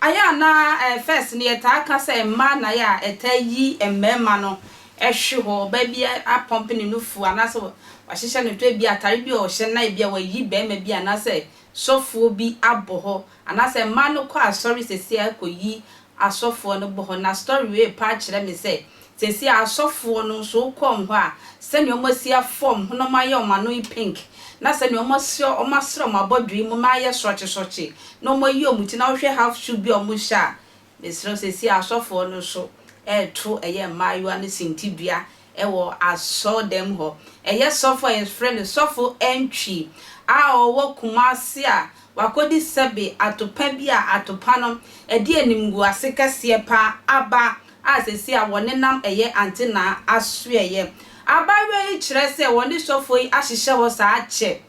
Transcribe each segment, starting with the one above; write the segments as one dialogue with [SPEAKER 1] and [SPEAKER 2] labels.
[SPEAKER 1] Ayɛ a na eh, first no yɛtaa ka sɛ mmaa na ayɛ a ɛtaa yi mmarima no hwe hɔ. Ɔbaa bi apɔmpe ne nufu anaasɛ wahyehyɛ ne to, ebia atare bi a ɔhyɛ na ebia wayi barima bi anaasɛ sɔfoɔ bi abɔ hɔ. Anaasɛ mmaa no kɔ asɔre seesei ara kɔyi asɔfoɔ no bɔ hɔ, na story wei repa akyerɛ me sɛ seesei ara asɔfoɔ no nso wokɔ wɔn hɔ a, sɛdeɛ wɔasi afɔm ho na wɔayɛ wɔn ano yi pink, na sɛdeɛ wɔasi wɔasra wɔn abɔdwee mu ma ayɛ sorɔkye sorɔkye, na wɔayi wɔn ti, na wohwɛ half shoe bi a wɔhyɛ a, Mesrɛ wo, seesei asɔfoɔ no nso reto ɛyɛ mmaayewa no sintidua wɔ asɔrdan mu hɔ. Ɛyɛ sɔfo a yɛfrɛ no Sɔfo Antwi a ɔwɔ Kumasi a wakɔdi sɛbe atopa bi a atopa no ɛde animguase kɛseɛ pa ara aba a seesei a wɔnenam ɛyɛ antenaa asoɛeɛ. Abaayewa yi kyerɛ sɛ wɔne sɔfoɔ yi ahyehyɛ hɔ saa kyɛ.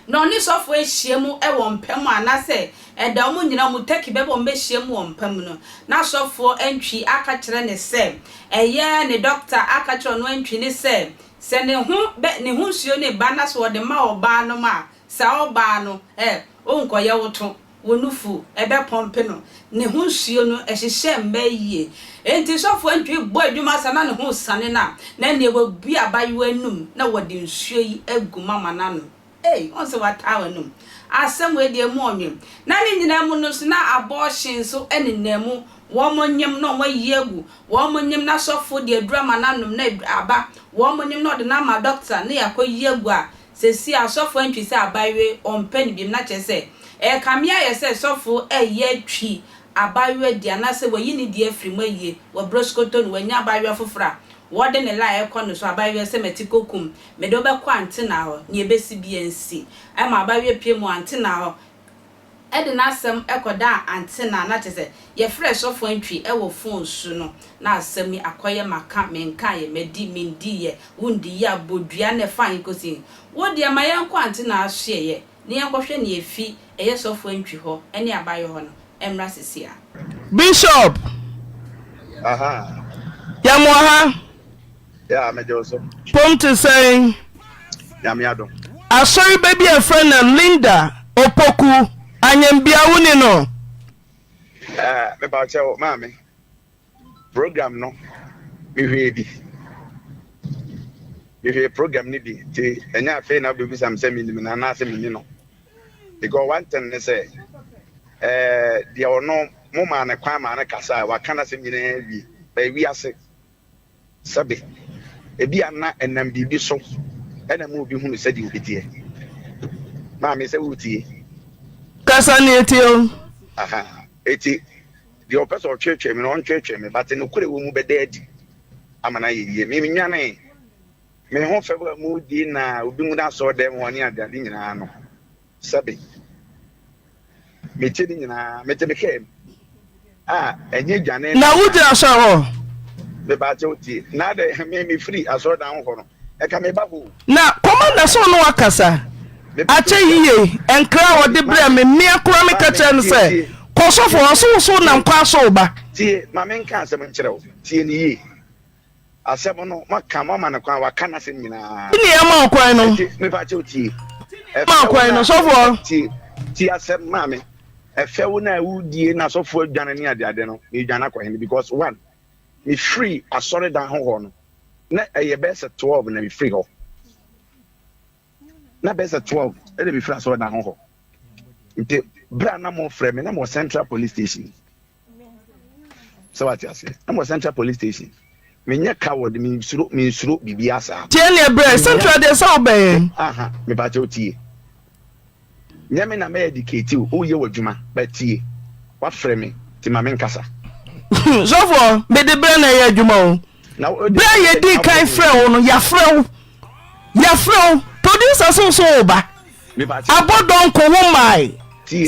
[SPEAKER 1] na ɔne sɔfoɔ ahyia mu wɔ mpa mu anaasɛ ɛda wɔn nyinaa mu tɛki bɛbɔ wɔn bɛhyia mu wɔ mpa mu no, na sɔfoɔ antwi aka kyerɛ ne sɛ ɛyɛ ne dɔkta aka kyerɛ ɔno antwi ne sɛ, sɛ ne ho bɛ, ne ho nsuo no reba na sɛ wɔde ma ɔbaa no ma a, saa ɔbaa no, ɛ, ɔnkɔyɛ woto. wo nufu bɛpɔmpe no, ne ho nsuo no hyehyɛ mma yie. Enti sɔfoɔ ntumi bɔ adwuma ansa na ne ho resane no a, na ɛnneɛ wabue abayewa anum na wɔde nsuo yi agu mu ama no anom. Ei, wohu sɛ wataa w'anom? Asɛm wei deɛ emu ɔnwen. Na ne nyinaa mu no nso na abɔɔhye nso nenam mu, wɔnyem na wɔayi agu, wɔnyem na sɔfoɔ de aduru ama no anom na aba, wɔnyem na ɔde no ama dɔkta na yɛakɔyi agu a Sesie asɔfo antwi sɛ abayewa yi ɔmpɛ no biom na kyerɛ sɛ ɛrekame ayɛ sɛ sɔfo reyɛ atwi abayewa di anaasɛ wayi ne di afiri mu ayie wɔ berɛ sokoto no wannya abayewa foforɔ a wɔde ne lie rekɔ no so abayewa sɛ mati kɔkum mede wo bɛkɔ antenaa hɔ nea ɛbɛsi biara nsi ɛma abayewa pue mu antenaa hɔ de n'asɛm kɔdaa Antenna na kyerɛ sɛ yɛfrɛɛ sɔfo Antwi wɔ fon so no na asɛm yi akɔyɛ maka menkaeɛ, madi mendiiɛ, wondiiɛ abodua na ɛfaa he kɔsi he? Wo deɛ ma yɛnkɔ Antenna asoɛeɛ na yɛnkɔhwɛ nea ɛfi ɛyɛ sɔfo Antwi hɔ ne abayɔ hɔ no mmra seesei ara. Bishop,
[SPEAKER 2] yɛn wɔ ha. Yeah,
[SPEAKER 3] me dew so. Pom te sɛn?
[SPEAKER 2] Nyame adom.
[SPEAKER 3] Asɔre
[SPEAKER 2] ba bi a ɛfrɛ no Linda Opoku, Anyambia wo ni no? Eh,
[SPEAKER 3] me pa kyɛ wo, maame. Program no, me hwee bi. Me hwee program ni bi, ti ɛnyɛ afei na wobɛbisa me sɛ menim no anaasɛ menni no. Because one thing ne sɛ, eh, deɛ ɔno mo maa no kwan maa no kasa a, waka n'asɛm nyinaa wie, ɛyɛ wiase. Sɛbe, ebia na ɛnam biribi so na ɛma obi hunu sɛdeɛ obi teɛ. Maame, sɛ woretie. Kasa
[SPEAKER 2] na yɛtie o. Aha,
[SPEAKER 3] eti, deɛ ɔpɛ sɛ ɔtweetwee me no, ɔntweetwee me, but nokorɛ a ɛwɔ mu bɛda adi ama no ayɛ yie. Menwanee me ho fɛw a mudi na obi nwunu asɔɔdɛm hɔ ne adeade nyinaa no. Sɛbe mete ne nyinaa mete me kaa mu a ɛnyɛ dwane na. Na wo gyina sɔre hɔ.
[SPEAKER 2] Me ba
[SPEAKER 3] kyɛw tie na dɛ me me firi asɔrdan ho kɔ no ɛka me ba hoo. Na kɔma na sɛ
[SPEAKER 2] ɔne wakasa akyɛ yiye ɛnkra a ɔde brɛ me mmea kora me ka kyerɛ no sɛ kɔ sɔfo hɔ so wo so nam kwan so wo ba. Tie ma me nka
[SPEAKER 3] asɛm nkyerɛ wo tie no yie. Asɛm no, moaka, moama no kwan, waka n'asɛm nyinaa. Ti nea yɛma ɔkwan no.
[SPEAKER 2] Ɛti, mepa kyɛw tie. Ti
[SPEAKER 3] nea yɛma ɔkwan
[SPEAKER 2] no, sɔfoɔ. Ti, ti asɛm
[SPEAKER 3] maa me. Ɛfɛ wo na wodie na sɔfoɔ adwane ne adeade no, medwane akɔ hene because one, mefiri asɔredan ho hɔ no, na ɛyɛ bɛyɛ sɛ 12 na mefiri hɔ. na bɛyɛ sɛ twelve ɛna mefiri asɔre na hɔ nti berɛ a na mofrɛ me na mewɔ central police station sɛ wate aseɛ na mewɔ central police station menyɛ coward mensuro mensuro biribi asaa tie neɛ berɛ central
[SPEAKER 2] deɛ sɛ wobɛyɛ mepakyɛ
[SPEAKER 3] wotie Nyɛ me na mɛ educate wo, woyɛ w'adwuma but tie, wafrɛ me nti ma menkasa. Sɔfoɔ,
[SPEAKER 2] mede berɛ na ɛyɛ adwuma o. Berɛ a yɛdii kan frɛɛ wo no, yɛafrɛ wo, yɛafrɛ wo. Producer so nso wo ba. Abɔ dɔnko wo mmae.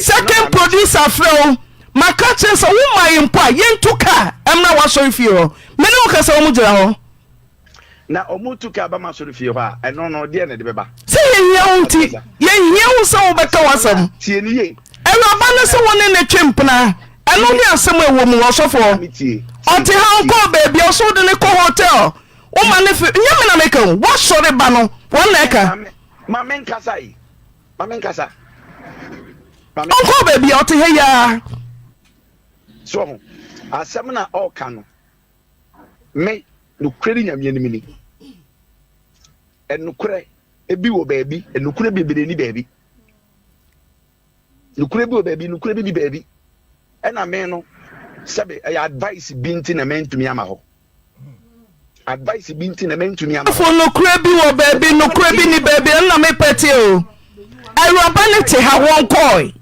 [SPEAKER 2] Second producer frɛ wo, maka kyerɛ sɛ wo mmae mpo a yɛntu kaa mmra w'asɔrefie hɔ. Me ne wo kasa wɔn gyina hɔ. Na
[SPEAKER 3] wɔretu ka aba m'asɔrefie hɔ a, ɛno no, deɛn na ɛde bɛba? Sɛ yɛhia wo nti,
[SPEAKER 2] yɛhia wo sɛ wobɛka w'asɛm. Tie no yie.
[SPEAKER 3] Awuraba no se wo
[SPEAKER 2] ne no twe mpena. Ɛno ne asɛm a ɛwɔ mu, ɔsɔfoɔ. Ɔte ha, ɔnkɔɔ baabi a, ɔse wode no kɔ hotel, woma no fe, nyɛ me na meka o, w'asɔre ba no, wɔn na ɛka. Ma me nkasa
[SPEAKER 3] yi, ma me nkasa.
[SPEAKER 2] Ɔnkɔɔ baabi a,
[SPEAKER 3] ɔte ha
[SPEAKER 2] yi ara.
[SPEAKER 3] So ho, asɛm na ɔreka no. Me, nokorɛ ne Nyame anim ni. Nokorɛ bi wɔ baabi, nokorɛ bebree ni baabi. Nokorɛ bi wɔ baabi, nokorɛ bi ni baabi. Ɛna me no, sɛbe ɛyɛ advice bi nti na mantumi ama hɔ. Advice bi nti na mantumi ama hɔ. Fo nokorɛ bi
[SPEAKER 2] wɔ
[SPEAKER 3] baabi,
[SPEAKER 2] nokorɛ bi ni baabi. Ɛna me pɛteɛ o, awuraba no te ha, wɔnkɔɔe.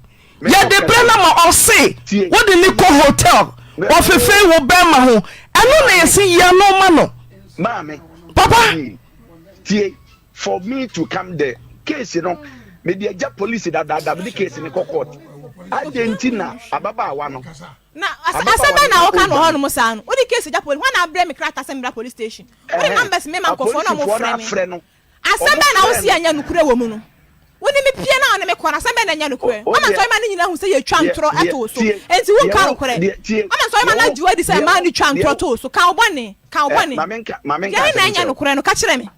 [SPEAKER 2] Yɛde bɛ na ma ɔse wode no kɔ hotel ɔfefee wo bɛɛma ho ɛno na yɛse yia no ma no
[SPEAKER 3] papa.
[SPEAKER 2] Tie
[SPEAKER 3] for me to come there case no mede agya police dadaada mede case no kɔ court adɛn nti na ababaawa no na asɛm
[SPEAKER 4] bɛn na woka no hɔ nom saa no wode case agya police hɔ na abrɛ me krataa sɛ mebra police station wode numbers mema nkɔfoɔ na ɔmo frɛ me Asɛm bɛn na wo se ɛnyɛ nokorɛ wɔ mu no? Wo ne me pie na wo ne me kɔ no, asɛm bɛn na ɛnyɛ nokorɛ? Ama nsɔremma no nyinaa hu sɛ yɛtwa ntorɔ to wo so, enti wonka nokorɛ. Ama nsɔremma no agye wo adi sɛ mmaa no twa ntorɔ to wo so. Ka wo bɔne! Ka wo bɔne! Deɛ
[SPEAKER 3] he na ɛnyɛ
[SPEAKER 4] nokorɛ no? Ka kyerɛ me.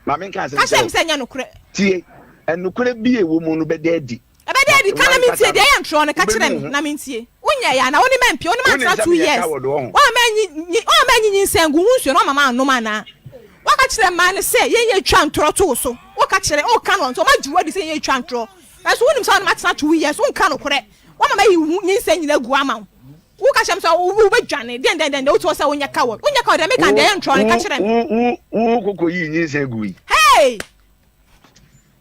[SPEAKER 4] Ka kyerɛ
[SPEAKER 3] me sɛ ɛnyɛ nokorɛ.
[SPEAKER 4] Tie!
[SPEAKER 3] Nokorɛ bi a ɛwɔ mu no bɛda adi. Ɛbɛda adi, ka na mentie,
[SPEAKER 4] deɛ ɛyɛ ntorɔ no, ka kyerɛ me, na mentie. Wonyɛeɛ anaa? Wonim mampia? Wonim mantra two years? Woamma ɛnyi nyinsɛn nguu ho nsuo na woamma mannom anaa? Woaka kyerɛ mmaa no sɛ yɛn yɛ twa ntorɔ to wo so, woka kyerɛ, woka no nso, wɔagye wo adi sɛ yɛn yɛ twa ntorɔ, nanso wonim sɛ wo ne matena two years, wonka nokorɛ, woama mayi wo nyinsɛn nyinaa agu ama wo, woka kyerɛ me sɛ wobɛdwane, deɛn deɛn deɛn deɛ wote hɔ sɛ wonyɛ coward, wonyɛ coward deɛ meka deɛ ɛyɛ ntorɔ no, ka kyerɛ me. Wo koko yii
[SPEAKER 3] nyinsɛn gui. Hey!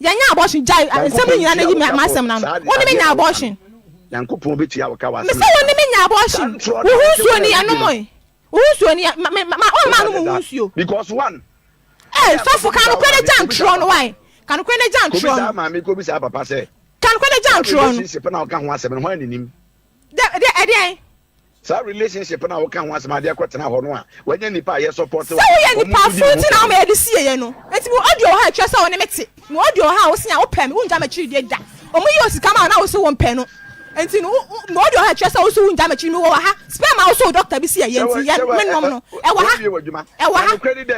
[SPEAKER 4] Yɛnyɛ abortion gyae nsɛm no nyinaa na yi m'asɛm no ano. Wo ne me nya
[SPEAKER 3] abortion. Mese wo ne me nya abortion.
[SPEAKER 4] Wo ho nsuo ni, ɛnom e. Wo ho nsuo ni, ɔmma anom wo ho nsuo.
[SPEAKER 3] Ei, sɔfo,
[SPEAKER 4] ka nokorɛ no gya ntorɔ no, wae. Ka nokorɛ
[SPEAKER 3] no gya ntorɔ
[SPEAKER 4] no. Ka nokorɛ no gya
[SPEAKER 3] ntorɔ no. Dɛ, dɛ, ɛdeɛn?
[SPEAKER 4] Saa
[SPEAKER 3] relationship no a woka ho asɛm a ade akɔ tena hɔ no a wanya nipa a yɛ support wo a wɔn nso di wo ho fɛ no. Sɛ woyɛ nipa foforo
[SPEAKER 4] nti na woma yɛde sie yɛ no. Enti mewɔ audio wɔ ha a ɛkyerɛ sɛ wo ne me te. Mewɔ audio wɔ ha a wose a wopɛ me, wongya m'akyiri die da. Wɔn yii wo sika maa wo na wose wompɛ no enti no wo mewɔ audio wɔ ha a ɛkyerɛ sɛ wose wongya m'akyiri mewɔ wɔ ha. Sperm a wose wo doctor bi se ɛyɛ nti yɛ no me nom no ɛwɔ ha ɛwɔ ha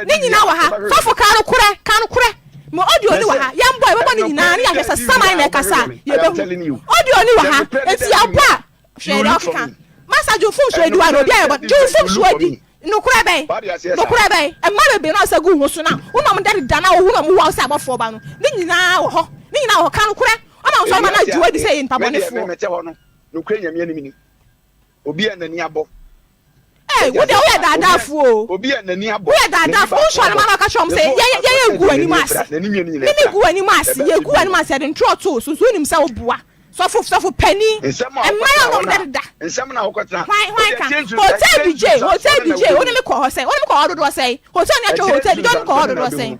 [SPEAKER 4] ne nyinaa wɔ ha. Sɔfo ka nokorɛ ka nokorɛ mewɔ audio ni wɔ ha yɛmbɔ yɛbɛbɔ ne nyinaa ne yɛahwɛ sɛ saman na ɛkasa a yɛbɛhu. Audio ni wɔ ha enti yɛbɔ a Hwɛ deɛ ɔkeka. Masa Jewfo nsuoadiwa no, obiara yɛbɔ no. Jewfo nsuoadi. Nokorɛ bɛn? Nokorɛ bɛn? Mma bebree na ɔsa gu wo so no a wonom da dedaa no a wohu no a wɔwɔ wo sɛ abɔfoɔ ba no, ne nyinaa wɔ hɔ. Ne nyinaa wɔ hɔ. Ka nokorɛ. Ɔma wo nsɔremma no agye wo adi sɛ yɛyɛ nnipa bɔnefoɔ. Medeɛ, me mete hɔ no,
[SPEAKER 3] nokorɛ Nyame anim ni. Obiara a n'ani abɔ Ei,
[SPEAKER 4] wo deɛ woyɛ daadaafo o. Woyɛ
[SPEAKER 3] daadaafo. Wonsɔre
[SPEAKER 4] ma na ɔka kyerɛ wɔn sɛ yɛ yɛ yɛ yɛgu w'anim ase. Me me gu w'anim ase. Yɛgu w'anim ase. Yɛde ntorɔ too so. So wonim sɛ woboa sɔfo sɔfo panin? Mmaa a wɔn dɛdeda. Hwan
[SPEAKER 3] hwan ka?
[SPEAKER 4] Hotel DJ hotel DJ wo ne me kɔ hɔ sɛn? Wo ne me kɔ hɔ dodoɔ sɛn? Hotel no yɛtwɛ hotel DJ wo ne me kɔ hɔ dodoɔ sɛn?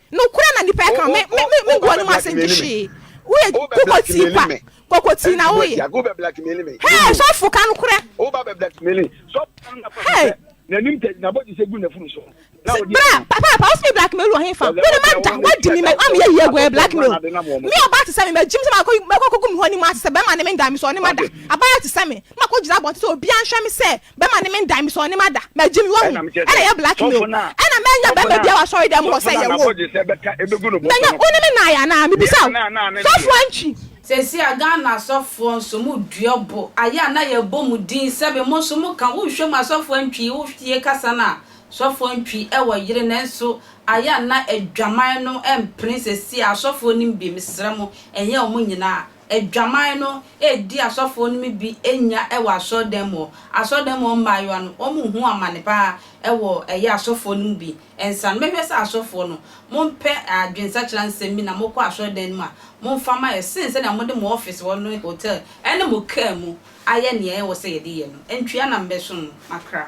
[SPEAKER 4] Nokorɛ na nipa yɛ kama. Me me me me gu anim ase nti hwee. Woyɛ koko tii kwa. Koko tii na woyɛ.
[SPEAKER 3] Hɛɛ
[SPEAKER 4] sɔfo ka
[SPEAKER 3] nokorɛ.
[SPEAKER 4] Hɛɛ.
[SPEAKER 5] Bra papa papa
[SPEAKER 4] wosɛ me blackmail wɔ henfa. Wode ma da wadi mi mɛ ma meyɛ yie agu ɛyɛ blackmail. Me ɔbaa te sɛ me magyim sɛ makɔ makɔ kɔgu me ho anim ase sɛ bɛma ne me nda me sɛ ɔne ma da. Abaayewa te sɛ me na makɔ gyina abɔnten sɛ obiara nhwɛ me sɛ Bɛma ne mendan me sɛ ɔne m'ada. Magye me wahu. Ɛna ɛyɛ blackmail. Ɛna mɛnya bɛrima biara wɔ asɔredan mu hɔ sɛ yɛwoo. Mɛnya wo ne me nae anaa? Mebisa wo. Sɔfo Antwi. Sɛsi a Ghana
[SPEAKER 1] asɔfoɔ nso mo dua bo ayɛ a na yɛ bɔ mo din sɛbe mo nso mo ka wo hwɛ mu a sɔfo antwi wo hwie kasa no a sɔfo antwi wɔ yere nanso ayɛ a na adwaman no mpene sɛsi a asɔfoɔ nim bi mesrɛ mo ɛnyɛ ɔmo nyinaa Adwaman no edi asɔfoɔ no mu bi nya wɔ asɔredan mu hɔ. Asɔredan mu hɔ mmaayewa no, wɔn ho amane paa wɔ ɛyɛ asɔfoɔ no mu bi nsa no. Mɛhwɛ sɛ asɔfoɔ no, mo mpɛ adwensakyera nsɛm bi na mo kɔ asɔredan no mu a, mo mfa ma yɛ, sen sɛnea mo de mo ɔfese hɔ ne hotel ne mo car mu ayɛ nea ɛwɔ sɛ yɛde yɛ no. Ntwea na mɛsom mo, makra.